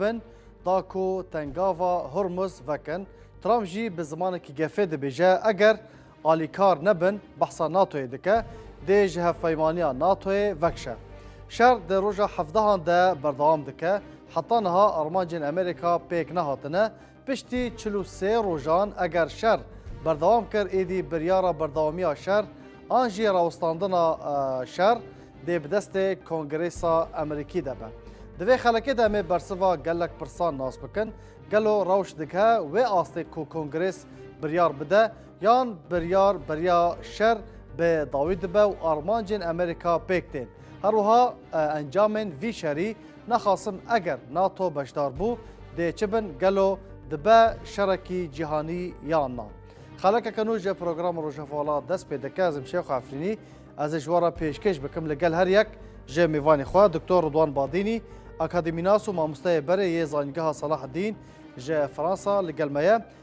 bin da ku tengava Hormuz vekin. Trump jî bi zimanekî gefê dibêje eger alîkar nebin behsa NATO'yê dike, dê ji hevpeymaniya NATO'yê vekşe. Şer di roja hevdehan de berdewam dike. Heta niha armancên Amerîka pêk nehatine. Piştî çil û sê rojan eger şer berdewam kir êdî biryara berdewamiya şer an jî rawestandina şer dê bi destê Kongresa Emerîkî de be. Di vê xelekê de em ê bersiva gelek pirsan nas bikin, Gelo rewş digihe wê astê ku Kongres biryar bide yan biryar beriya şer bi dawî dibe û armancên Emerîka pêk tên? Herwiha encamên vî şerî Naxasim eger nato beşdar bû dê çi bin gelo dibe şerekî cîhanî yan na. Xelekeke nû ji programa Rojhevala dest pê dike ezim Şêxo Efrînî ez ê ji we re pêşkêş bikim li gel her yek ji mêvanê xwe Doktor Ridwan Badînî akademînas û mamosteyê berê yê Zanîngeha Salaheddîn ji Fransa li gel me ye.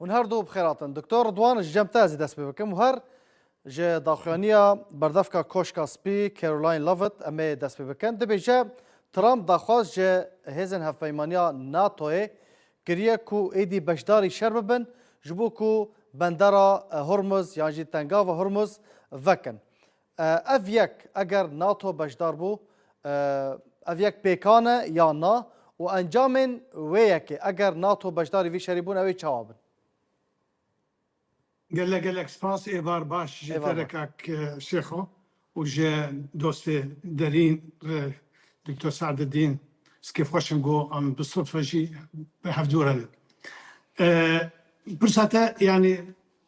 Hûn her du bixêr hatin. Doktor Ridwan ji cem te ez ê dest pê bikim û her ji daxuyaniya berdevka Koşka Spî Caroline Lovett em ê dest pê bikin. Dibêje Trump daxwaz ji hêzên hevpeymaniya NATO'yê kiriye ku êdî beşdarî şer bibin ji bo ku bendera Hormuz yan jî tengava Hormuz vekin. Ev yek eger nato beşdar bû ev yek pêkan e ya na û encamên wê yekê eger nato beşdarî vî şerî bûn ew ê çawa bin? Gelek gelek spas êvar baş ji te re kak Şêxo û ji dostê derîn re Doktor Seededîn Skê xweş in ku em bi sitfe jî bi hev dûr herin. Pirsa te yanî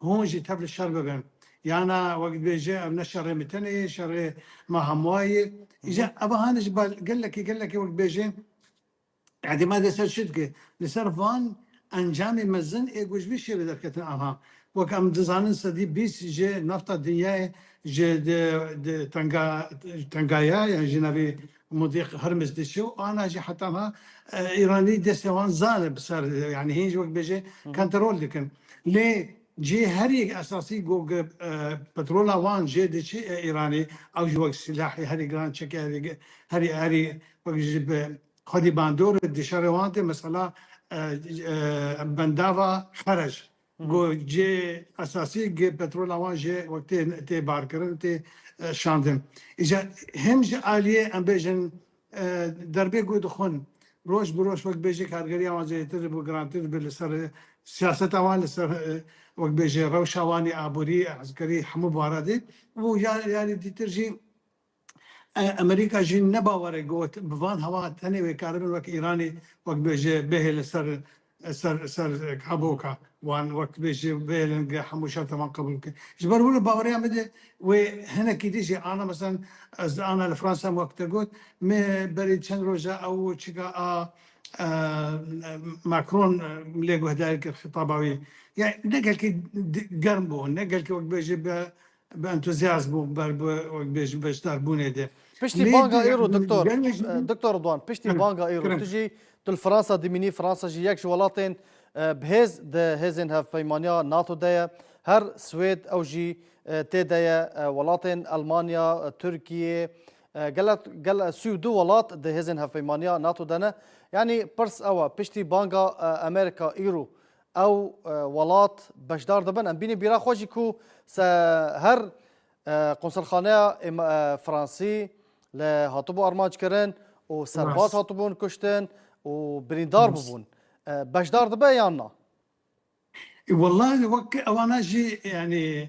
Hûn jî tev li şer bibin. Yana wek dibêje ev ne şerê me tenê ye, şerê me hemûa ye. Îja evahane jî bal gelekî gelekî wek dibêje îtîmadê ser çi dike. Li ser van encamê mezin ê ku ji vî şêve derketin anha. Wek em dizanin sedî bîst ji nafta dinyayê ji tenga tenga ya yan ji navê Modîq Hurmiz diçe û ana jî heta niha Îranî destê wan zal e bi ser yanî hêj wek bêje kontrol dikin. Lê cihê herî yek esasî ku petrola wan jê diçe ya Îranê ew jî wek silahê herî giran çekê herî herî wek ji bi xwedî bandor e di şerê wan de mesela bendava Xerec Ku cihê esasî yê petrola wan jê wek tê tê barkirin û tê şandin. Îcar him ji aliyê em bêjin derbê ku dixwin roj bi roj wek bêjê kargeriya wan zêdetir û girantir dibe li ser siyaseta wan li ser wek bêjê rewşa wan yê aborî, eskerî hemû baradê û ya yanî dîtir jî Amerîka jî ne bawerek got bi van hewa tenê wê karibin wek Îranê wek bêje bêhê li ser ser ser kaboka wan wek bêje bêhêlin ge hemû şerta wan qebûl bike. Ji ber wilo baweriya min de wê hinekî din jî ana meselan ez ana li Fransa em wek te got me berî çend roja ew çika a Macron lê guhdarî kir xitaba wî. Ya ne gelkî germ bû ne gelkî wek bêje bi Bi entuzyazm bû ber bi wek bêjim beşdarbûnê de. Piştî Lê banga îro diktor, gelê jî diktor Ridwan piştî banga îro tu jî tu li Fransa dimînî, Fransa jî yek ji welatên bihêz di hêzên hevpeymaniya NATO de ye. Her Swêd ew jî tê de ye, welatên Elmanya, Tirkiyê, gele gel sî û du welat di hêzên hevpeymaniya NATO de ne. Yanî pirs ew e piştî banga Amerîka îro ew welat beşdar dibin. Em bînî bîra xwe jî ku se her qonsilxaneya Fransî li hatibû armanckirin û serbaz hatibûn kuştin û birîndar bûbûn. Beşdar dibe yan na? Wellahî wek ewana jî yanî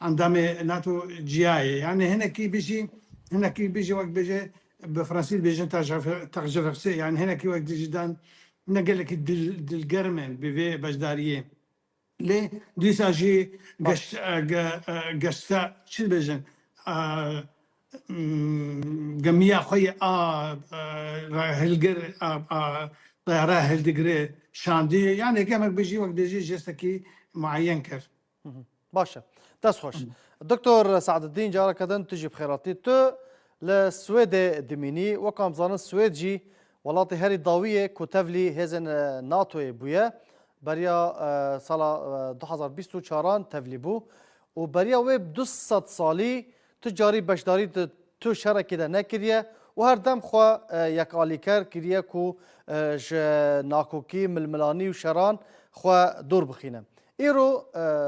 Endamê NATO ciyayê. Yani hinekî bijî hinekî bijî wek bêje bi fransî dibêjin terjefefsê yani hinekî wek dijî dan ne gelekî dil dilgerm in bi vê beşdariyê. Lê dîsa jî geşt geşta çi dibêjin gemiya xwe yê a hilgir a teyara hildigirê şandî yani gemek bijî wek dijî jestekî mueyen kir. Baş e. Dest xweş. Doktor Seadeddîn careke din tu jî bi xêr hatî. Tu li Swêdê dimînî. Wekam dizanin Swêd jî welatê herî dawî yê ku tevlî hêzên NATO'yê bûye. Beriya sala du hezar û bîst û çaran tevlî bû û beriya wê du sed salî tu carî beşdarî di tu şerekê de nekiriye û her dem xwe yekalîker kiriye ku ji nakokî, milmilanî û şeran xwe dûr bixîne. Îro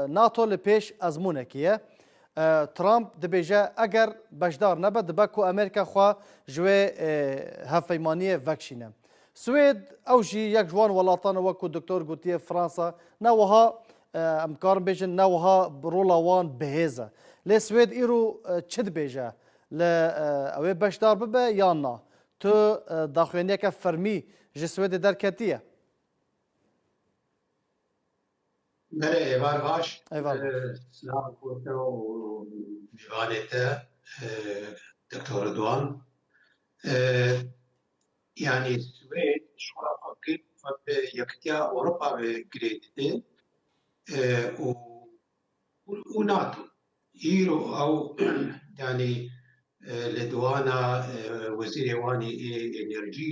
nato li pêş ezmûnekî ye. Trump dibêje eger beşdar nebe dibe ku Amerîka xwe ji wê hevpeymaniyê vekişîne. Swêd ew jî yek ji wan welatan e weku Doktor gotiye Fransa ne wiha em dikarin bêjin ne wiha rola wan bihêz e. Lê Swêd îro çi dibêje? Li ew ê beşdar bibe yan na? Tu daxuyaniyeke fermî ji Swêdê derketiye? Mere êvar baş. Êvar baş. Silav kote û mêvanê te Doktor Ridwan. Yanî Swêd şola xwe girt xwe bi Yekitiya Ewropa ve girê dide û û NATO. Îro ew yanî li diwana wezîrê wan ê enerjî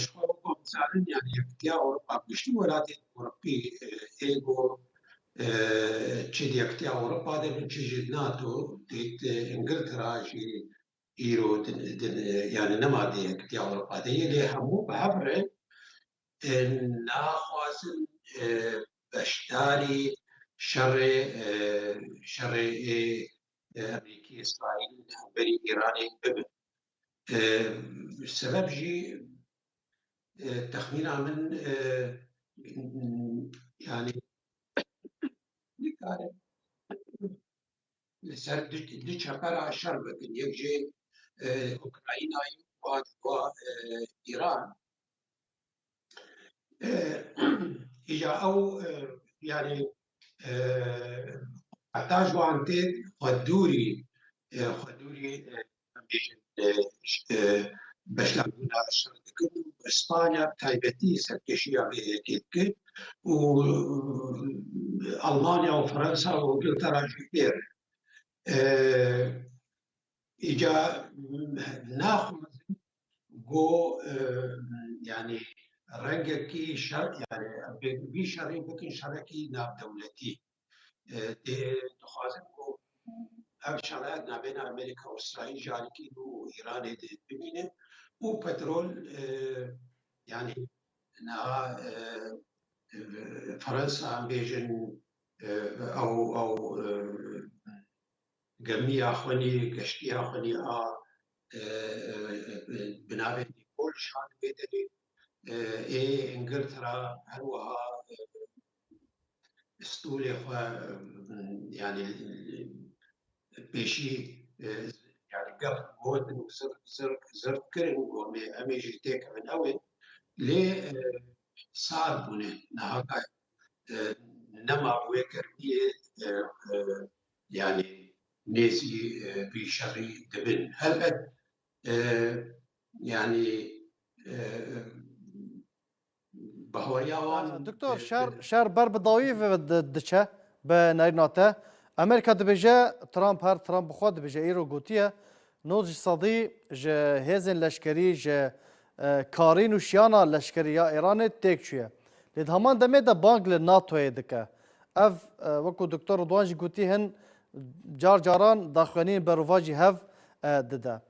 Ji xwe weko bizanin yanî Yekîtiya Ewropa bi giştî welatên Ewropî ê ku çi di Yekîtiya Ewropa de bin çi jî di NATO dît Îngiltera jî îro yanî nema di Yekîtiya Ewropa de yê lê hemû bi hev re naxwazin beşdarî şerê şerê ê Amerîkî-Îsraîl li hemberî Îranê bibin. Sebeb jî texmîna min yanî nikare li ser du çepera şer bikin. Yek jê Ukraynayê û a di Îran. Îja ew yanî heta ji wan tê xwe dûrî xwe dûrî beşdarbûna şer dikin û bi Spanya bi taybetî serkêşiya vê yekê dikir û Almanya û Fransa û Ingiltera jî fêr in. Îja naxwazin Go yanî rengekî şer yanî em pê vî şerê bikin şerekî navdewletî. Dê dixwazin ku ev şere navbêyna Amerîka û Îsraîl ji alîkî û Îranê dê bimîne û petrol yanî niha Fransa em bêjin ew ew Gemiya xwenî, geştiya xwenî a bi navê Nîkol şand wê demê. Ê Îngiltera her wiha stolê xwe yanî pêşî yanî gef gotin û zirt kirin ku em ê jî têkevin ew ê lê sar bûne niha ka nema bi wê germiyê Yanî nêzî vî şerî dibin. Helbet yanî bihoriya wan. Doktor şer şer ber bi dawî ve diçe bi nerîna te. Amerîka dibêje Trump her Trump bi xwe dibêje îro gotiye Nod ji sedî ji hêzên leşkerî ji karîn û şiyana leşkerî ya Îranê têk çûye. Lê di heman demê de bang li NATO'yê dike. Ev wekû Doktor Ridwan jî gotî hin car caran daxuyanîn berovajî hev dide.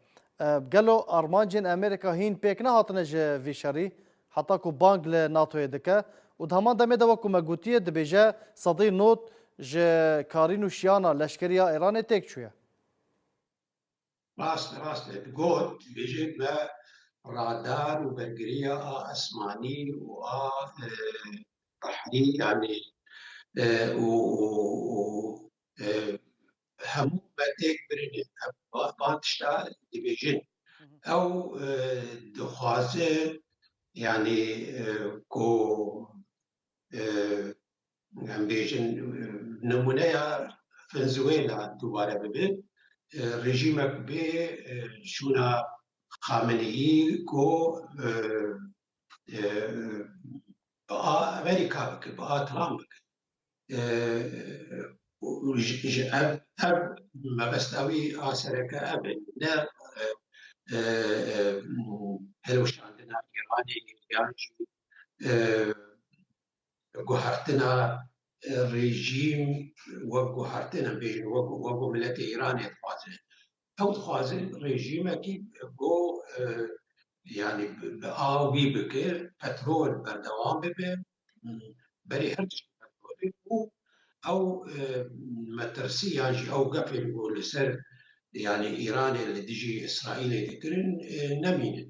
Gelo armancên Amerîka hîn pêk nehatine ji vî şerî heta ku bang li NATO'yê dike û di heman demê de wekû me gotiye dibêje sedî nod ji karîn û şiyana leşkerî ya Îranê têk çûye. Rast rast e digot, dibêjin me radar û bergiriya a esmanî û a behrî yanî û hemû me têk birîne. Van tişta dibêjin. Ew dixwaze yanî ku em bêjin nimûneya Venezuela dubare bibe, rejîmek bê şûna Xameneî ku bi a Amerîka bikin, bi a Trump bikin. Ji ev ev mebesta wî a sereke ev e ne hilweşandina Îranê yan jî Guhertina rejîm wek guhertin em bêjin wek ku miletê Îranê dixwazin. Ew dixwazin rejîmekî ku yanî bi avî bike, petrol berdewam bibe, berê her tiştî petrolê û ew metirsî yan jî ew gefên ku li ser yanî Îranê li dijî Îsraîlê dikirin nemînin.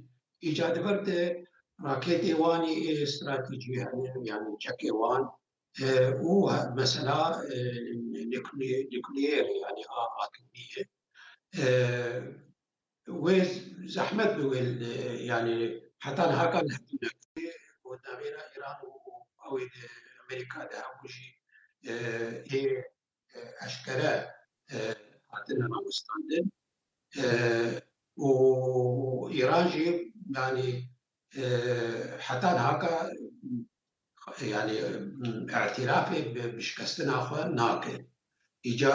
Îcadger di raketê wan ê stratejî herin yanî çekê wan û mesela nukleerê yanî a atomî ye. Wê zehmet bi wê yanî heta niha ka li hev neket. Wê di navbera Îran û ew ê di Amerîka de hebû jî ê eşkere hatine rawestandin û Îran jî yanî heta niha ka yanî îtîrafê bi şikestina xwe nake. Îca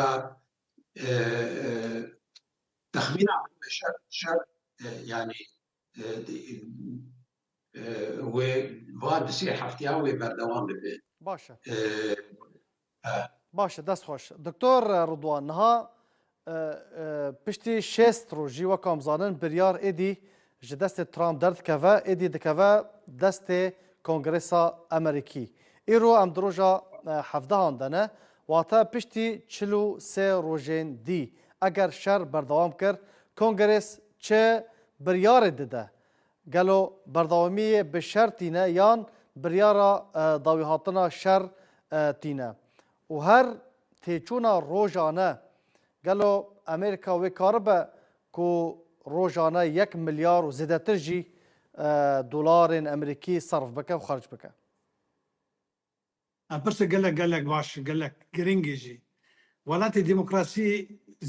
texmîna min me şer şer yanî Wê va di sê hefteyan wê berdewam bibe. Baş e. Baş e, dest xweş. Doktor Ridwan, niha piştî şêst rojî wek em zanin biryar êdî ji destê Trump derdikeve, êdî dikeve destê Kongresa Amerîkî. Îro em di roja hevdehan de ne, wate piştî çil û sê rojên dî. Eger şer berdewam kir, Kongres Çi biryarê dide? Gelo berdewamiyê bi şer tîne yan biryara dawîhatina şer tîne? Û her têçûna rojane gelo Amerîka wê karibe ku rojane yek milyar û zêdetir jî dolarên amerîkî serf bike û xerc bike? Em pirsê gelek gelek baş gelek girîngî jî. Welatê demokrasî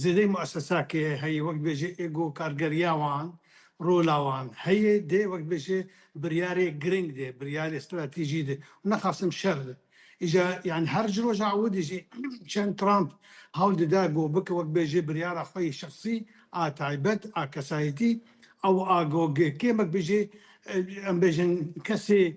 zêdeyî muessesa ke heye wek dibêje êgo kargeriya wan, rola wan heye dê wek dibêje biryarê girîng de, biryarê stratejî de û nexasim şer de. Îja yanî her ji roja ewidî jî çend Trump hewl dida go bike wek dibêje biryara xwe yê şexsî a taybet a kesayetî ew a go kêm wek dibêje em bêjin kesê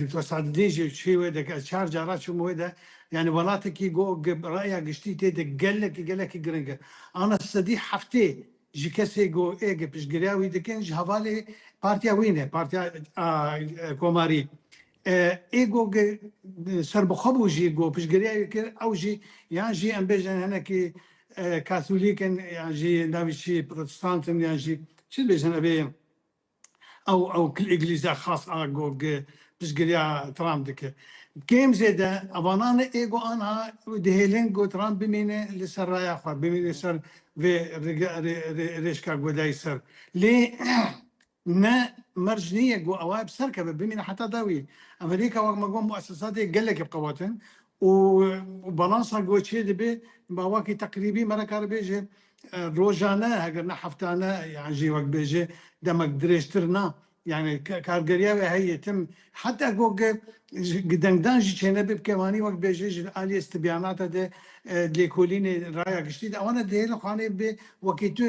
Doktor Sadedîn jî çûye wê de, ez çar cara çûm wê de, yanî welatekî ku raya giştî tê de gelekî gelekî giring e. Ana sedî heftê ji kesê ku êgê piştgiriya wî dikin ji hevalê partiya wî ne, partiya komarî. Ê ku serbixwe bû jî ku piştgiriya wî kir ew jî yan jî em bêjin hinekî katholîk in yan jî navê çi ye protestant in yan jî çi dibêjin ev ê Ew ew kil îglîzde xas a go gi piştgiriya Trump dike. Kêm zêde evananê ê go anha dihêlin go Trump bimîne li ser raya xwe, bimîne ser vê rêşka godayî ser. Lê ne merc nîye go ewa bi ser keve, bimîne heta dawiyê. Amerîka wek me got muesesatê gelekî qewet in û balansa goçê dibê mawakî teqrîbî me nikare bêje rojane heger ne heftane yan jî wek bêje demek dirêjtir na yanî kargeriya wê heye tim heta ku gidengdan jî çênebê bike wanî wek bêje ji aliyê stibyanate de lêkolînê raya giştî de wana dihêle xaneyê bê wekî tu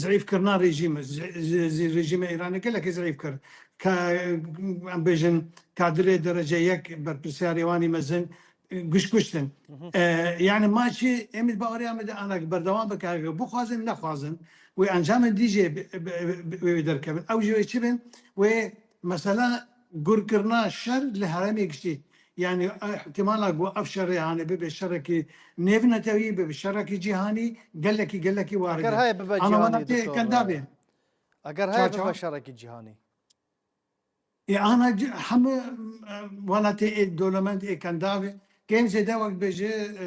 Zîîfkirina rejîmê zî rejîmê Îranê gelekî zîîf kir. Ka em bêjin kadrê derece yek berpirsyarê wan ê mezin giş kuştin. Yanî ma çî em ê baweriya me de anak berdewam bike heger bixwazin nexwazin wê encamên dî jê wê derkevin. Ew jî wê çi bin wê Mesela gurkirina şer li herêmê giştî yanî îhtimala ku ev şerê hanê bibe şerekî nêvnetewî, bibe şerekî cîhanî gelekî gelekî warid Eger e. heye bibe Ana cîhanî welatê Doktor, kenda bê. eger heye Çaça? bibe şerekî cîhanî. Ê ana c- hemû e, welatê ê dolemend ê kenda bê. Kêm zêde wek bê ji e,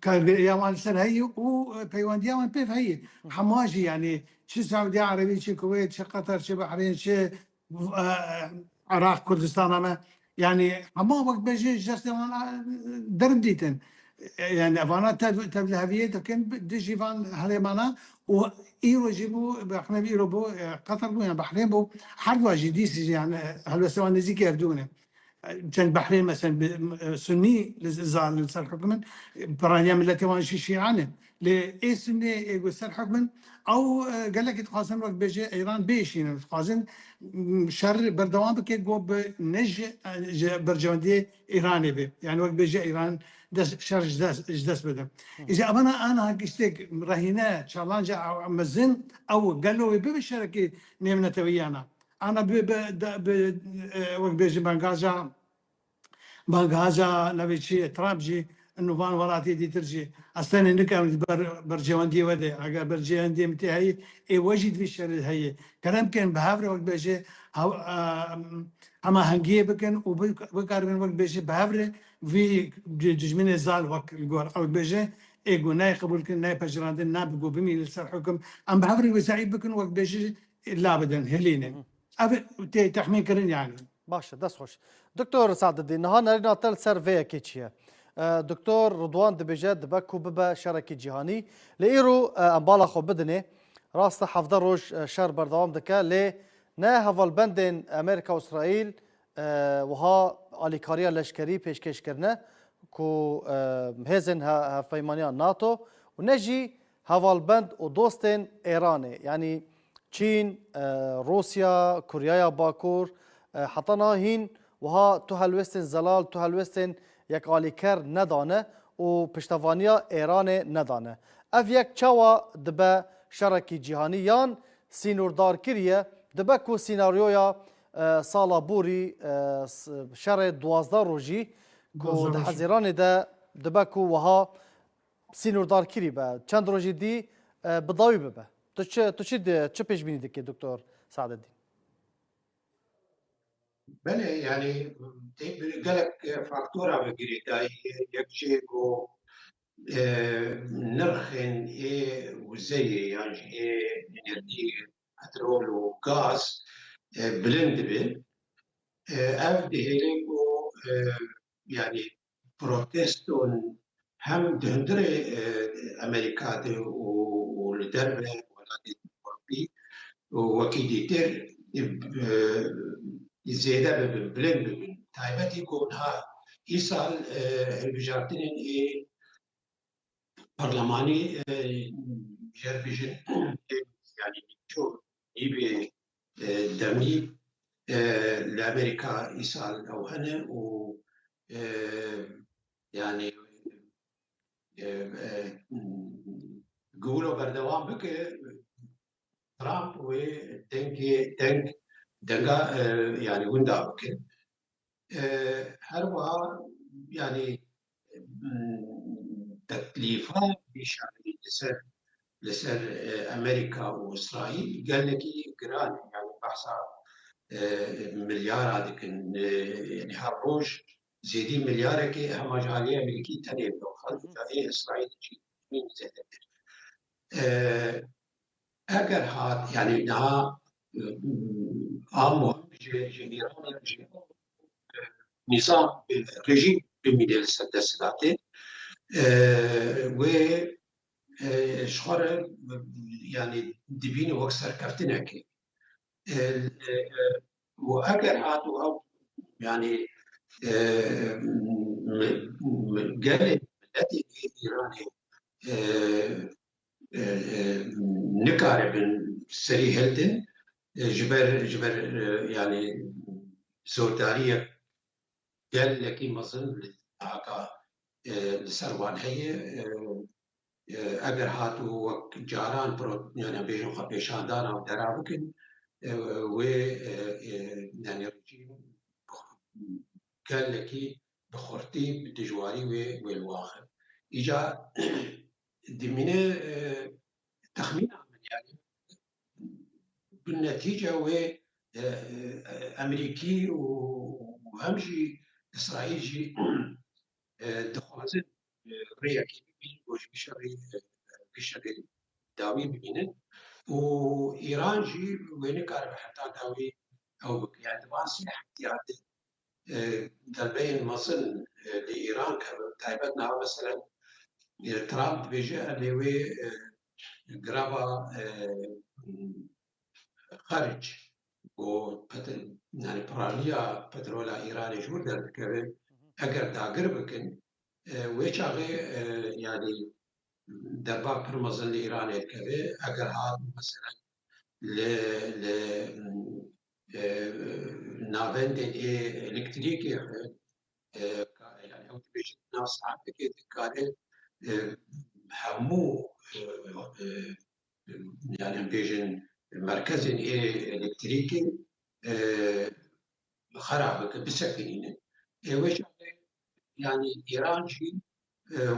Kargeriya wan li ser heyî û peywendiya wan pêv heyî. Hema jî yanî çi Siûdiya Erebî, çi Kuweyt, çi Qetar, çi Behrîn, çi Iraq, Kurdistana me yanî hema wek be jî ji destê wan derm dîtin. Yanî evana tev tevliheviyê dikin dijî van herêman a û îro jî bû rexne îro bû Qetar bû yan Behrîn bû her dua jî dîsî jî yan helwestê wan nêzîkî Erdogane. Çend behrê meselen bi Sunnî li za li ser hukm in, piraniya miletê wan jî Şîan in. Lê ê Sunnê ê ku ser hukm in ew gelekî dixwazin wek bêje Îran bêjînin. Dixwazin şer berdewam bike ku bi ne ji ji berjewendiyê Îranê bê. Yanî wek bêje Îran dest şer ji dest ji dest bide. Îja evana aniha giştek rehîne çalanja mezin ew gelo wê bibe şerekî nêvneteweyiyan a. Ana bi bi da bi wek bêjin bengaja bengaja navê çi ye Trump jî nu van welatiyê dîtir jî ez tenê nikem li ber berjewendiyê we de eger berjewendiyê min tê heyî ê we jî divê şerê heyê kerem bikin bi hev re wek bêje hew hemahengiyê bikin û bikaribin wek bêje bi hev re vî dijminê zal wek li gor ew dibêje ê ku nayê qebûlkirin nayê pejirandin na bi ku bimînin li ser hukm em bi hev re wê zeîf bikin wek bêje labidin hilîne. Ev tê tehmînkirin yani. Baş e, dest xweş. Doktor Sadedî, niha nerîna te li ser vê yekê çi ye? Doktor Ridwan dibêje dibe ku bibe şerekî cîhanî. Lê îro em bala xwe bidinê. Rast e hevdeh roj şer berdewam dike lê ne hevalbendên Amerîka û Îsraîl wiha alîkariya leşkerî pêşkêş kirine ku hêzên hevpeymaniya NATO û ne jî Hevalbend û dostên Êranê yanî Çîn, Rûsya, Kuryaya Bakur heta niha hîn wiha tu helwestên zelal, tu helwestên yekalîker nedane û piştevaniya Êranê nedane. Ev yek çawa dibe şerekî cîhanî yan sînordarkiriye, dibe ku sînaryoya sala borî şerê duwazdeh rojî ku di Hezêranê de dibe ku wiha Sînordarkirî be. Çend rojî dî bi dawî bibe. Tu çi tu çi çi pêşbînî dikî Doktor Sadeddîn? Belê yanî tê bi gelek faktora bi girêdayî yek jî ku nirxên ê wizeyê yan jî ê enerjî petrol û gaz bilind dibe. Ev dihêle ku yanî proteston hem di hundirê Amerîka de û li derve welatên Ewropî wekî dîtir zêde bibin, bilind bibin. Taybetî ku niha îsal hilbijartinên ê parlemanî jêr bijîn ê yanî nîvçûn Hîvê demî li Amerîka îsal ew hene û yanî Gulo berdewam bike Trump wê dengê deng denga yanî winda bike. Her wiha yanî teklîfa bîşarî li ser li ser Amerîka û Îsraîl gelekî giran e. Yanî behsa milyara dikin. Yanî her roj zêdî milyarekê hema ji aliyê Amerîkî tenê bidofan û ji aliyê Îsraîlê jî hîn zêdetir. Eger hat yanî niha am nîzam rejîm bimîne li ser desthilatê wê ji xwe re yanî dibîne wek serkeftinekê û eger hat û ew yanî gelê miletê Îranê nikaribin serî hildin ji ber ji ber yanî zordariyek gelekî mezin li cihaka li ser wan heye eger hatû wek caran yanî bêjin xwe pêşandana û dera bikin wê yanî rejîm gelekî bi xurtî bi dijwarî wê wê li wan xist îcar Dimîne texmîna min yani bi netîca wê Emerîkî û hem jî Îsraîl jî dixwazin rêyekê bibînin ku ji vî şerê dawî bibînin û Îran jî wê nikaribe heta dawî ew bike. Yani di van sê heftîyan de derbeyên mezin li Îran kevin taybet niha meselen Trump dibêje erê wê greva xeric û yani piraniya petrola Îranê ji wir derdikeve eger dagir bikin wê çaxê yani derba pir mezin li Îranê dikeve eger hat meselen li li navendekê elektrîkê nav saetekê dikare hemû yani bêjin merkezên ê elektrîkê xera bike bisekinîne ê weş Yanî Îran jî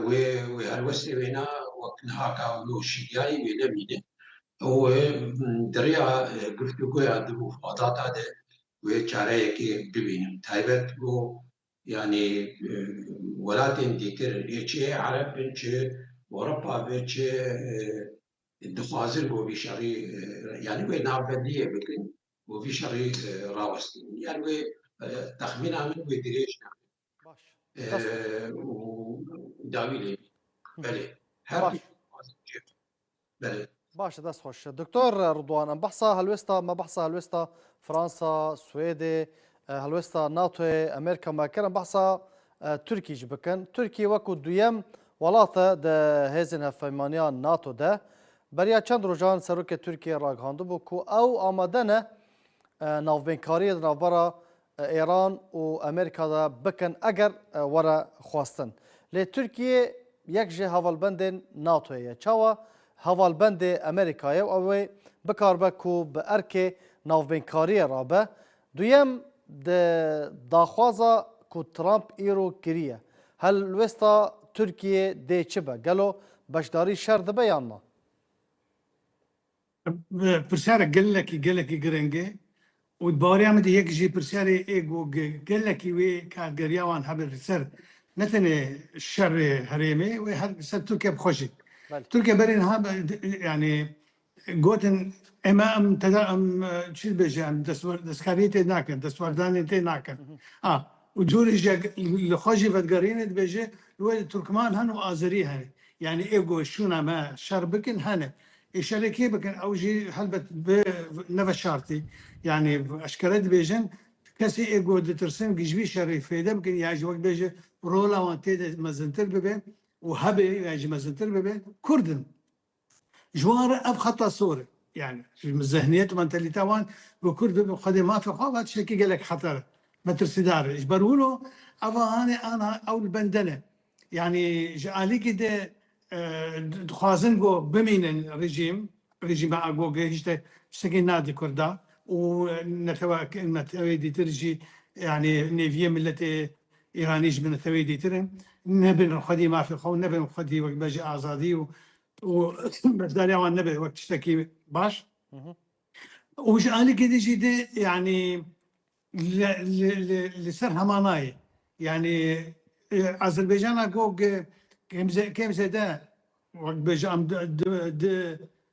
wê wê helwestê wêna wek niha ka wilo şîniyayî wê nemîne û di rêya guftûgoya di mufadata de wê çareyekê bibînin. Taybet ku yanî welatên dîtir ê çi ê Ereb bin çi Ewropa be çi dixwazin ku vî şerî yanî wê navbendiyê bikin. Bo vî şerî rawestîn. Yan wê texmîna min wê dirêj nebe. Û dawî lê bî. Belê. Her du Belê. Baş e dest xweş. Doktor Rudwan em behsa helwêsta me behsa helwêsta Fransa, Swêdê, helwêsta NATOyê, Amerîka me kir em behsa Tirkî jî bikin. Tirkî wekû duyem welat e di hêzên hevpeymaniya NATO de. Beriya çend rojan Serokê Tirkiyeyê ragihandibû ku ew amade ne navbênkariyê di navbera Êran û Amerîka de bikin eger were xwestin. Lê Tirkiye yek ji hevalbendên NATO'yê ye. Çawa hevalbendê Amerîkayê û ew ê bikaribe ku bi erkê navbênkariyê re be Duyem, di daxwaza ku Trump îro kiriye, helwesta Tirkiyeyê dê çi be? Gelo beşdarî şer dibe yan na? Pirsiyarek gelekî gelekî gireng e û di baweriya min de yek ji pirsiyarê ê ku gelekî wê kargeriya wan hebe li ser ne tenê şerê herêmê wê her li ser Tirkiye bi xwe jî. Tirkiye berê niha yanî Gotin eme em tede em çi dibêje em destkariyê tê nakin, destwardanê tê nakin. A û curê jî li xwe jî vedigerînê dibêje wê Turkman hene û Azerî hene. Yanî ê ku şûna me şer bikin hene. Ê şerê kê bikin ew jî helbet bi ne veşartî. Yanî eşkere dibêjin kesê ê ku ditirsin ku ji vî şerê fêde bikin ya jî wek dibêje rola wan tê de mezintir bibe û hebe ya jî mezintir bibe Kurd in. Ji wan re ev xeta sor e. Yanî ji zehniyet û mentalîteya wan ku kurd bibe xwedê mafê xwe va tiştekî gelek xeter e, metirsîdar e. Ji ber wilo ev a hanê aniha ew li bende ne. Yanî ji alîkî de dixwazin ku bimînin rejîm, rejîma Agogê hîç te tiştekî nadî kurdan û netewa, neteweyê dîtir jî yanî nêviyê miletê Îranî ji bi neteweyî dîtir in, nebin li xwedî mafê xwe û nebin li xwedî wek bejê azadî û û beşdariya wan nebe wek tiştekî baş. Û ji alikê din jî dê yanî li li li li ser hema nayê. Yanî Azerbaycana gog kêm kêm zêde wek bejê em di di di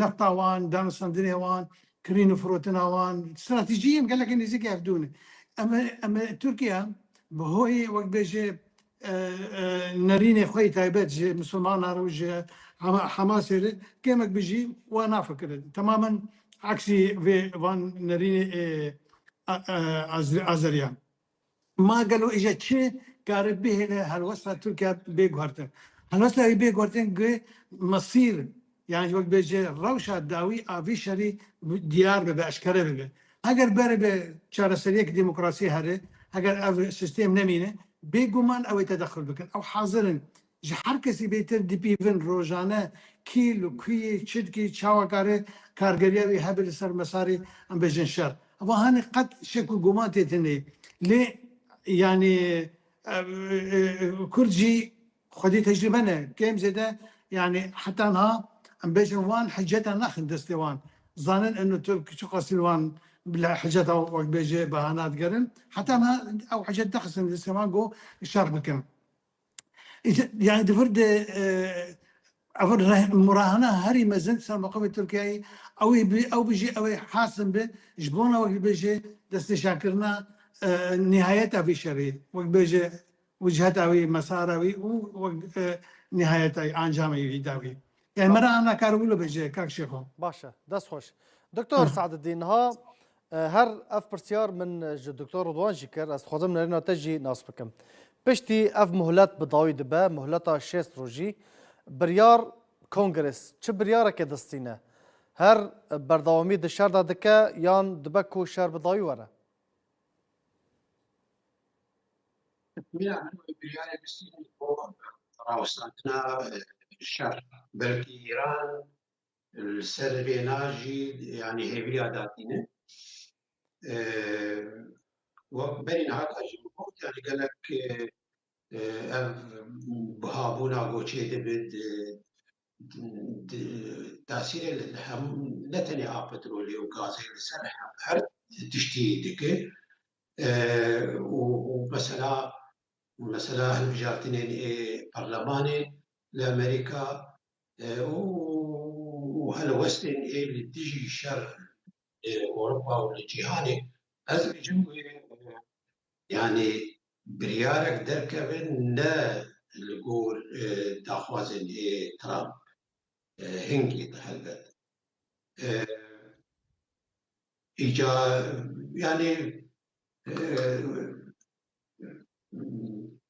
nefta wan, danosandinê wan, kirîn û firotina wan, stratejiyên gelekî nêzîkî ev dû ne. Em ê Tirkiye bi hoyê wek bêje nerînê xwe yê taybet ji misilmanan re û ji Hamasê re kêmek bijî wa nafikire. Temamen eksî vê van nerînê ê Azeriyan. Ma gelo îje çi kare bihêle helwesta Tirkiye bê guhertin? Helwesta wî bê guhertin ku mesîr yan ji wek bêje rewşa dawî a vî şerî diyar bibe, eşkere bibe. Heger beribe çareseriyek demokrasî here, heger ev sistêm nemîne, bêguman ew ê tedexul bikin. Ew hazir in Ji her kesî bêtir dipîvin rojane kî li ku yê, çi dikê, çawa kare kargeriya wî hebe li ser mesarê em bêjin şer. Ev hanê qet şek û guman tê tînê. Lê yanî Kurd jî xwedî tecrîbe ne. Kêm zêde yanî heta niha em bêjin wan hiceta naxin destê wan. Zanin eno Tirk çiqasî li wan li hiceta wek bêje behana digerin. Heta niha ew hicet nexistin destê wan ku şer bikin. Yani di vir de ev murahana herî mezin ser maqamê Tirkiyeyê ew ê bi ew bijî ew ê hasim bi ji bona wek bibêje destnîşankirina nihayeta vê şerê wek bêje wiciheta wê mesara wê û wek nihayeta ancamê wî da wî. Yani me re ana karibûlo bêje kak şêxo. Baş e, dest xweş. Doktor Seededîn niha Her ev pirsyar min ji Doktor Ridwan jî kir, ez dixwazim nirêna te jî nas bikim. Piştî ev muhlet bi dawî dibe, muhleta şêst rojî, biryar Kongres çi biryarekê distîne? Her berdewamî di şer de dike yan dibe ku şer bi dawî were? Rêya min wê biryarê bistînin bo rawestandina şer. Belkî Îran Li ser vêna jî yanî hêviya datîne wek berî niha ka jî bigot yanî gelek ev bihabûna goçê dibe di tasîrê li hemû ne tenê a petrolê û gazê li ser her tiştî dike û mesela mesela hilbijartinên ê perlemanê li Amerîka û helwestên ê li dijî şer li Ewropa û li cîhanê ez dibêjim wê yanî biryarek derkeve ne li gor daxwazên ê Trump hingê di helbet îca yanî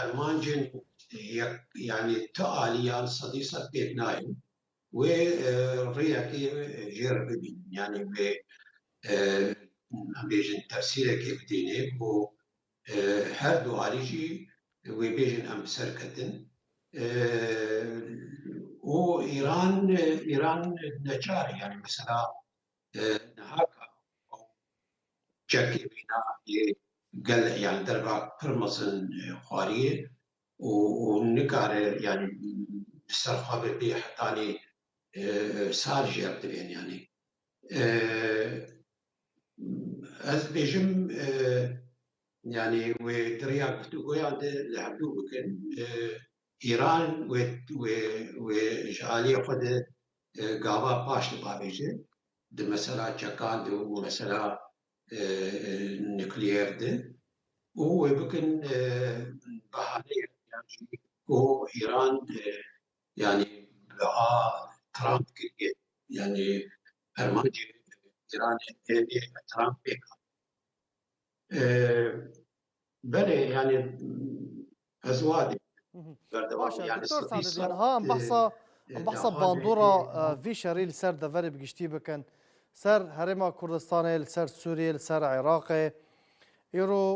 Armancên yek yanî tu aliyan sedî sed pêk nayên wê rêyekê jê re bibînin yanî wê em bêjin tefsîrekê bidînê ku her du alî jî wê bêjin em bi ser ketin û Îran Îran neçar e yanî mesela Niha ka ew çekê mîna yê gel yanî der ve pir mezin xwariyê û û nikare yanî bi ser xwe ve bê hetanî sar jî ev divên yanî. Ez dibêjim yanî wê di rêya guftugoyan de li hevdû bikin Îran wê ji aliyê xwe de gava paş dipavêje di mesela çekan de û mesela nukleer de û wê bikin behaneyek yan jî ku Îran yanî wiha Trump kiriye yanî armancê Îranê tê vê Trump pêk hat. Belê yanî ez wa dîm. Baş e Doktor Sadedîn niha em behsa em behsa bandora vî şerî li ser deverê bi giştî bikin. Li ser Herêma Kurdistanê, li ser Sûriyê, li ser Iraqê. Îro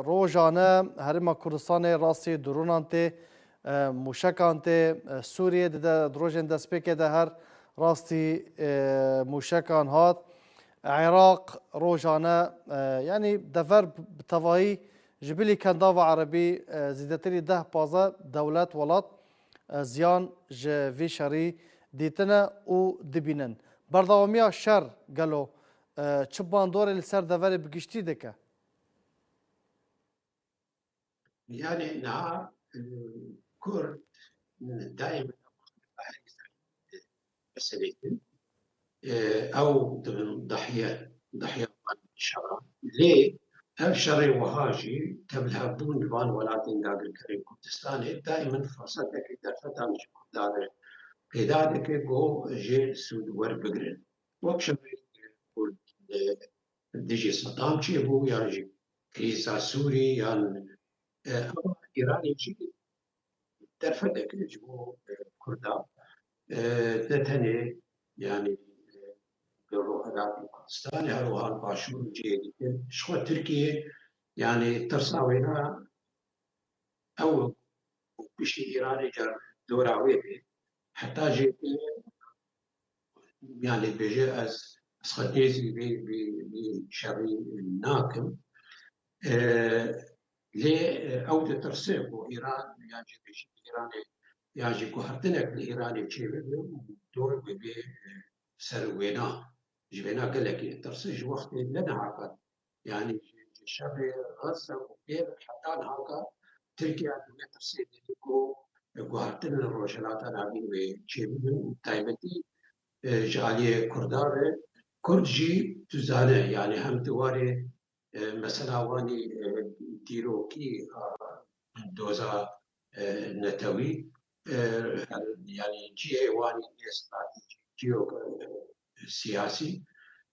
rojan e Herêma Kurdistanê rastî dronan tê, mûşekan tê. Sûriyê di rojên destpêkê de her rastî mûşekan hat. Iraq rojane yanî dever bi tevahî ji bilî kendava erebî zîdetirî deh pazdeh dewlet welat ziyan ji vî şerî dîtine û dibînin. Berdewamiya şer gelo çi bandorê li ser deverê bi giştî dike? Yanî niha Kurd dayê min e ku bi herî serî meselê din ew dibin dahiye dahiya van şeran. Lê ev şerê wiha jî tevlhevbûn di van welatên dagirkerên Kurdistanê dayê min firsetekê derfetan ji Kurdan re pêda dike ku jê sûd werbigirin. Wek şerê Kurd li Dijî Sedam çê bû yan jî krîza Sûrî yan ava Îranê jî derfetek ji bo Kurdan ne tenê yanî li Rojhilat û Kurdistanê herwiha li Başûr û cihê dikin ji xwe Tirkiyê yanî tirsa wêna ew piştî Îranê car dora wê bê heta jê Yan lê bêje ez ez xwe êzî vê vê vê şerî nakim. Lê ew ditirse ku Îran yan jî bêjî Îranê yan jî ku hatinek li Îranê çêbibe û dor bibe ser wêna. Ji wêna gelekî ditirse ji wextê ne nihata Yanî ji şevê rasa û pê ve heta niha Tirkiya di vê pirsê de ye ku guhertinên Rojhilata Navîn wê çê bibin û bi taybetî ji aliyê Kurdan re. Kurd jî tu zane yanî hem di warê mesela wan ê dîrokî a doza netewî yanî cihê wan ê nêstratejîk, cihê siyasî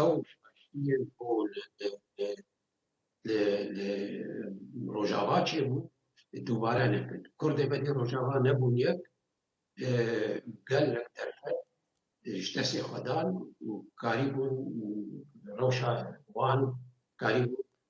Ew şaşiyên ku li Rojava çêbûn dubare nebin. Kurdê be dê Rojava nebûn yek, gelek derfet ji destê xwe dan û karîbûn rewşa wan karîbûn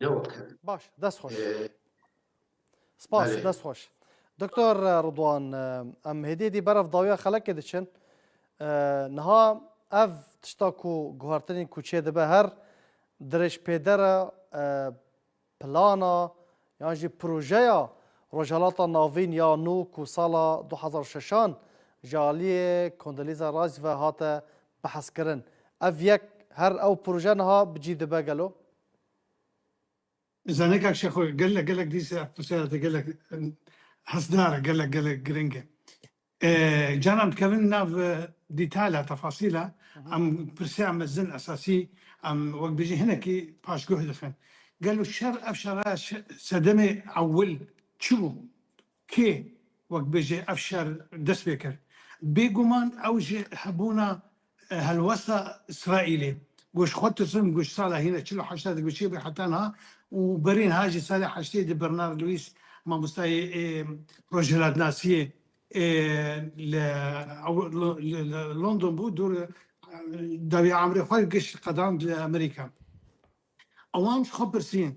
Ne wek hev e. Baş, dest xweş. Spas, Belê. dest xweş. Doktor Ridwan, em hêdî hêdî ber ev dawiya xelekê diçin. Niha ev tişta ku guhertinên kuçê dibe her dirêjpêdera plana yan jî projeya Rojhilata Navîn ya nû ku sala du hezar û şeşan ji aliyê Condoleezza Rice ve hate behezkirin. Ev yek her ew proje niha bi cî dibe gelo? Zanekak şexo gelek gelek dîsa ev pirsera te gelek hesdar e gelek gelek girîng e. Canan dikevin nav dîtala tefasîla em pirsiya mezin esasî em wek bijî hinekî paşguh dixin. Gelo şer ev şeraya sedemê ewil çi bû? Kê wek bêje ev şer dest pê kir? Bêguman ew ji hebûna helwesta Îsraîlê ku ji xwe tirsibûn ku ji sala hîna çil û heştê digoçêbû heta niha û berî niha jî salê heştê di Bernard Lewis mamostayê rojhilatnasiyê li London bû dûr dawî emrê xwe giş qedand li Amerîka. Wan ji xwe pirsîn,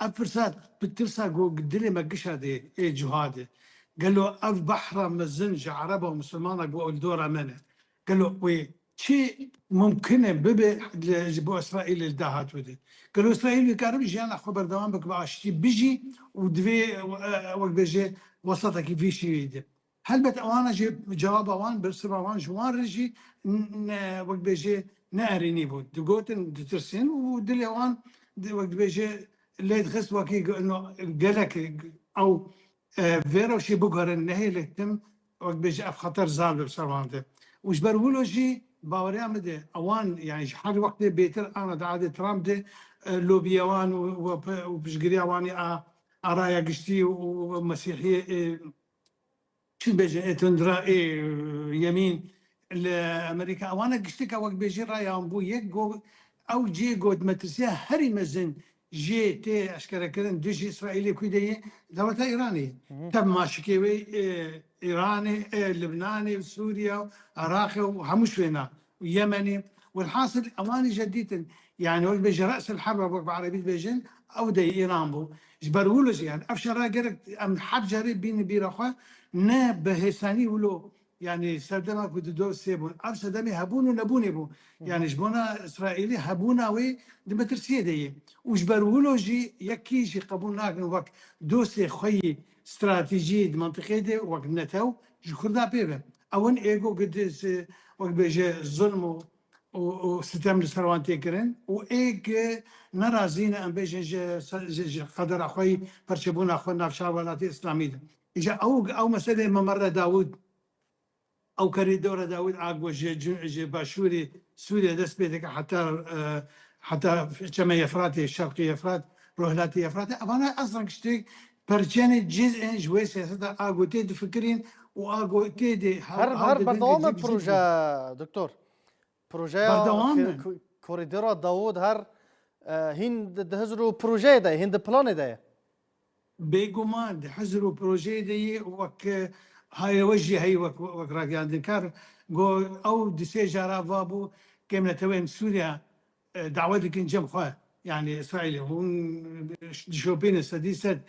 Ev pirsa bi tirsa ku di dilê me gişa dê ê cihad e, gelo ev behra mezin ji ereba û misilmana ku li dora me ne, gelo wê çi mimkin e bibe ji bo Îsraîlê li dahatû de? Gelo Îsraîl dikare bi jiyana xwe berdewam bike bi aştî bijî û divê wek bêje wesatekî vî şîweyî de? Helbet ewana jî cewaba wan bi siva wan ji wan re jî ne wek dibêje ne erênî bû. Digotin ditirsîn û dilê wan wek dibêje lê dixist wekî no gelek ew vê re jî biguherin nehêlek tim wek dibêje ev xeter zaf li ser wan de û ji ber wilo jî baweriya min de ewan yanî ji her wextê bêtir ana di adê Trump de lobiya wan û piştgiriya wanî a a raya giştî û mesîhiyê Çi bêje ê tundra ê yemîn li Amerîka ewan e gişteke wek bêjî rayan bû yek go ew cê got metirsiya herî mezin jê tê eşkerekirin dijî Îsraîlê kû de yê dewleta Îranê ye. Tev ma şikê wê ê Îranê ê Libnanê û Sûriye û Iraqê û hemû şwêna Yemenê, welhasil ewanî je dîtin, yanî wek bêje resel herb wek bi erebî dibêjin ew dey Îran bû. Ji ber wilo jî yanî ev şera gerek em her carê bînin bîra xwe ne bi hêsanî wilo yanî serdema ku di dor sê bûn ev sedemê hebûn û nebûnê bû. Yanî ji bona Îsraîlî hebûna wê di metirsiyê de yê û ji ber wilo jî yekî jî qebûl nakin wek dostê xwe yî Stratejî di mintiqê de wek netew ji Kurda pê ve. Ewin ê ku wek bêje zulm û sitem li ser wan tê kirin û ê ku nerazî ne em bêjin ji qedera xwe yî perçebûna xwe navçeya welatê îslamî de. Îja ew meselê Memerre Dawûd. Ew korîdora Dawîd Agwe ji başûrê Sûriyê dest pê dike heta heta Çemê Efratê, Şerqî Efrat, Rojhilatê Efratê. Evan e eslan kiştî perçeyane cîz ên ji wê siyaseta Agwe tê difikirîn û Agwe tê dê Her her berdewam e proje Doktor. Projeya korîdora Dawûd her hîn di hizir û projeyê de ye, hîn di planê de ye. Bêguman di hizr û projeyê de yê û wek haye we jî heyî wek wek ragihandinkar got, Ew du sê jara va bû kêm neteweyên Sûriya dawe dikin cem xwe yanî Îsraîlê hûn dişopînin sedî sed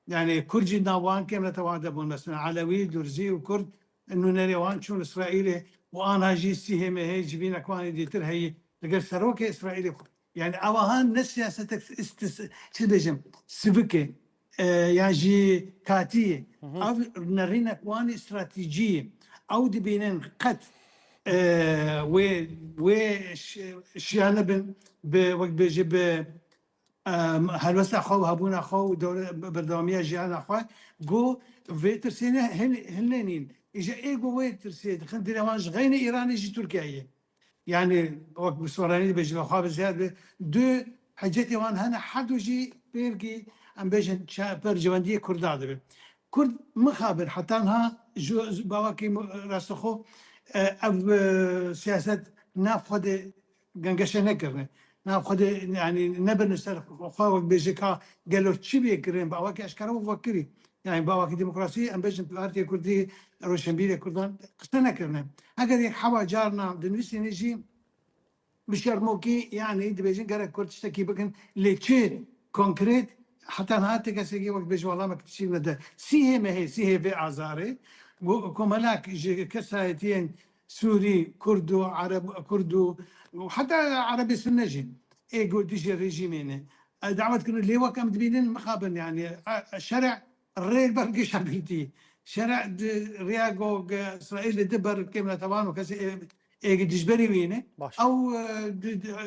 yanî Kurd jî di nav wan kêm netewan de bûn mesela Elewî, Durzî û Kurd nûnerê wan çûn Îsraîlê û anha jî CHMH'ê civînek wanê dîtir heyî li gel serokê Îsraîlê xwe Yanî awahan ne siyasetek çi dibêjim sivik e yan jî katî ye. Ev nerînek wan e stratejî ye. Ew dibînin qet wê wê şiya nebin bi wek bêjî bi helwesta xwe û hebûna xwe û berdewamiya jiyana xwe. Go vê tirsê ne hilnenîn. Îja ê go wê tirsê dixin dilê wan ji xeynî Îranê jî Tirkiyeyê. Yanî wek bi soranî dibe ji vexwe bi zêde be du hecetê wan hene her du jî pêrgî em bêjin per civendiyê kurda dibin. Kurd mixabin heta niha ji bawakî rastixo ev siyaset nav xwe de gengeşe nekirine. Na Xwedê yanî nebin li ser xwe wek bêje ka gelo çi bê kirin bi awakî eşkere û vekirî. Yanî bi awakî demokrasî em bêjin Partiyê Kurdî, Roşenbîrê Kurdan qise nekirine. Heger yek hewa carina dinivîsînê jî bi şermokî yanî dibêjin gerek Kurd tiştekî bikin lê çi konkret heta niha ti kesekî wek bêje welamek tişî nede. Sîhê me hê sîhê vê azarê. Komelak ji kesayetiyên Sûrî, Kurd û Ereb, Kurd û heta Erebê Sunne jî ê ku dijî rejîmê ne dawet kirine. Lê wek em dibînin mixabin yanî şerê rê li ber geşa girtî. Şerê di rêya ku Îsraîlê di ber kêm re tawan û kesê ê ku dijberî wî ne ew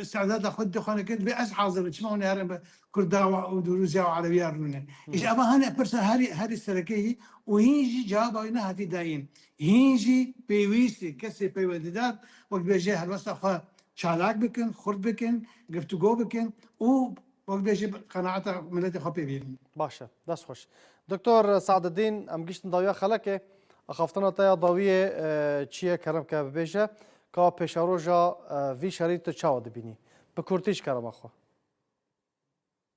îstîdada xwe dide xwene ke divê ez hazir bim. Çima hûn ê herin bi Kurda û bi Rûsya û Erebîya rûne? Îşa eva hene pirsa herî herî serekeyî û hîn jî cewaba wî nehatî dayîn. Hîn jî pêwîst e kesê peywendidar wek dibêje helwesta xwe çalak bikin, xurt bikin, giftugo bikin û wek dibêje qenaeta miletê xwe pê bînin. Baş e. Dest xweş. Doktor Seadedîn, em giştin dawiya xelekê. Axaftina te ya dawiyê çi ye kerem ke bibêje ka pêşeroja vî şerî tu çawa dibînî? Bi kurtî ji kerema xwe.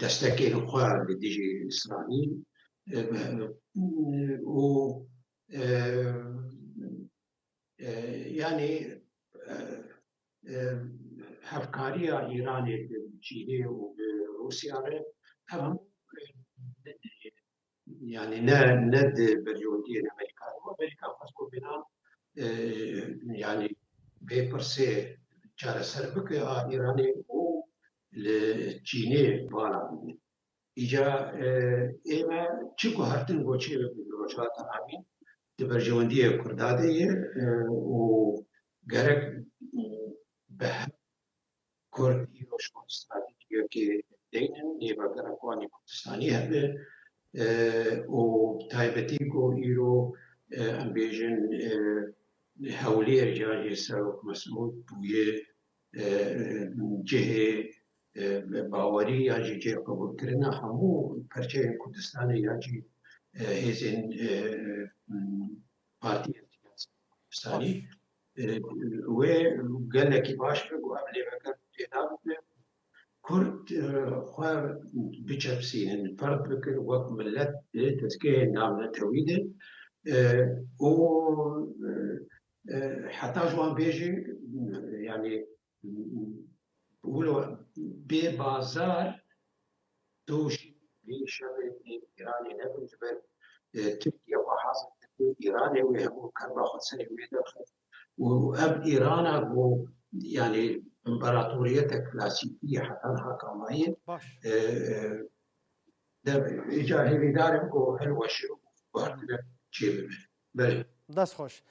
destekên xwe li dijî Îsraîl û yanî hevkariya Îranê bi cihê û bi Rûsya re ev hemû Yanî ne ne di beryondiyên Amerîka de bû. Amerîka xwest ku vîna yanî vê pirsê çareser bike a Îranê û li Çînê bala bidê. Îca ême çi guhertin goçê bi Rojhilata Navîn di berjewendiyê Kurda de ye û gerek bi hev Kurd îro ji wan stratejîyeke deyn in, nêvagera ku anî Kurdistanî hebe û bi taybetî ku îro em bêjin Hewlêr cihê Serok Mesûd bûye cihê bawerî yan jî cihê qebûlkirina hemû perçeyên Kurdistanê yan jî hêzên partiyên siyasî Kurdistanî. Wê gelekî baş be ku ev lêveke pêda bibe ku Kurd xwe biçepsînin, ferq bikin wek milet di dezgehên navnetewî de û heta ji wan bêje yanî Wilo bê bazar doş bê şerê bê Îranê nebin ji ber Tirkiye xwe hazir dikir Îranê wê hemû kerba xwe serê wê derxist û ev Îrana ku yanî împaratoriyete klasîkî yê heta niha kamayê dev îcar hêvîdar in ku hilweşin û guhertine çê bibe. Belê. Dest xweş.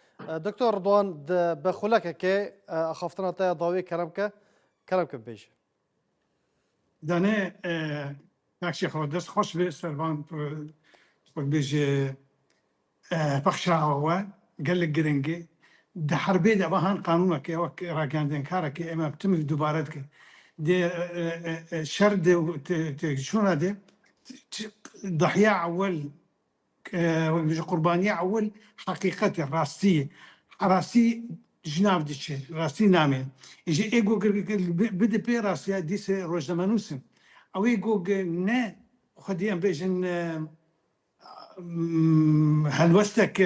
Doktor Ridwan di bi xulekekê axaftina te ya dawiyê kerem bike, kerem bike bibêje. Danê Pexşê xwe dest xweş be servan wek bêje pexşa we gelek giring e. Di herbê de wehan qanûneke wek ragihandinkareke em em timî dubare dike. Di şer de û têkçûna de dahiya ewel Wek dibêje qurbaniya ewil heqîqet e, rastî ye. Rastî ji nav diçe, rastî name. Ji ego kir kir bide pê rastiya dîse rojnamenûs in. Ew ego ge ne xwedî em bêjin helwestek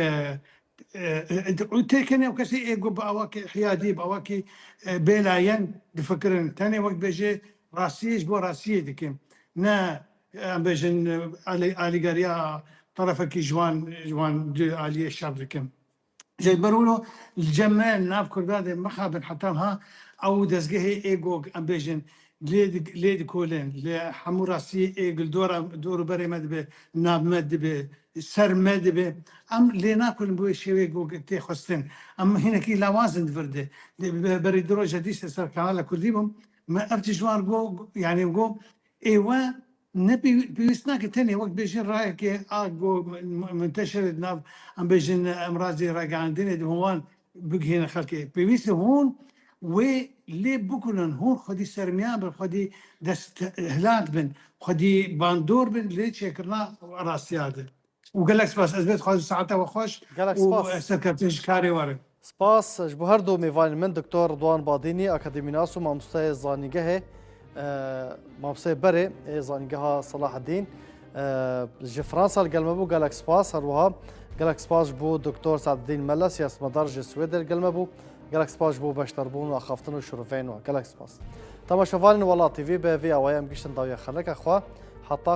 û tê kenê ew kesê ego bi awa ke hiyadî bi awa ke bêlayen difikirin. Tenê wek dibêje rastiyê ji bo rastiyê dike. Ne Em bêjin alîgeriya tarafekî ji wan ji wan du aliyê şer dikim. Jê ber wilo li cem me nav Kurda dê mixabin heta wiha ew û dezgehê ê ku em bêjin lê lê dikolin li hemû rastiyê ê ku li dora dor û berê me dibe nav me dibe ser me dibe em lê nakolin bi wê şêwê ku tê xwestin. Em hinekî lawaz in di vir de. Berî du roj e dîs ez ser kanala kurdî bûm me ev tişt wan ku yanî ku Êwa ne pêwîst nake tenê wek bêjin rayeke a ku munteşere di nav em bêjin emrazê ragihandinê di hûn wan bigihîne xelkê. Pêwîst e hûn wê lê bikunin, hûn xwedî sermiyan bin, xwedî desthilat bin, xwedî bandor bin li çêkirina rastiya de. Û gelek spas. Ez vê dixwazim saeta we xweş Gelek û spas. serkeftin ji karê were. Spas ji bo her du mêvanên min Doktor Ridwan Badînî akademînas û mamosteyê zanîngehê mamosteyê berê ê zanîngeha Selahedîn ji Fransa li gel me bû gelek spas her wiha gelek spas ji bo Doktor Sadedîn Mele siyasetmedar ji Swêdê li gel me bû gelek spas ji bo beşdarbûn û axaftin û şirûveyên wan gelek spas. Temaşevanên Welat TV bi vê awayê em giştin dawiya xeleka xwe heta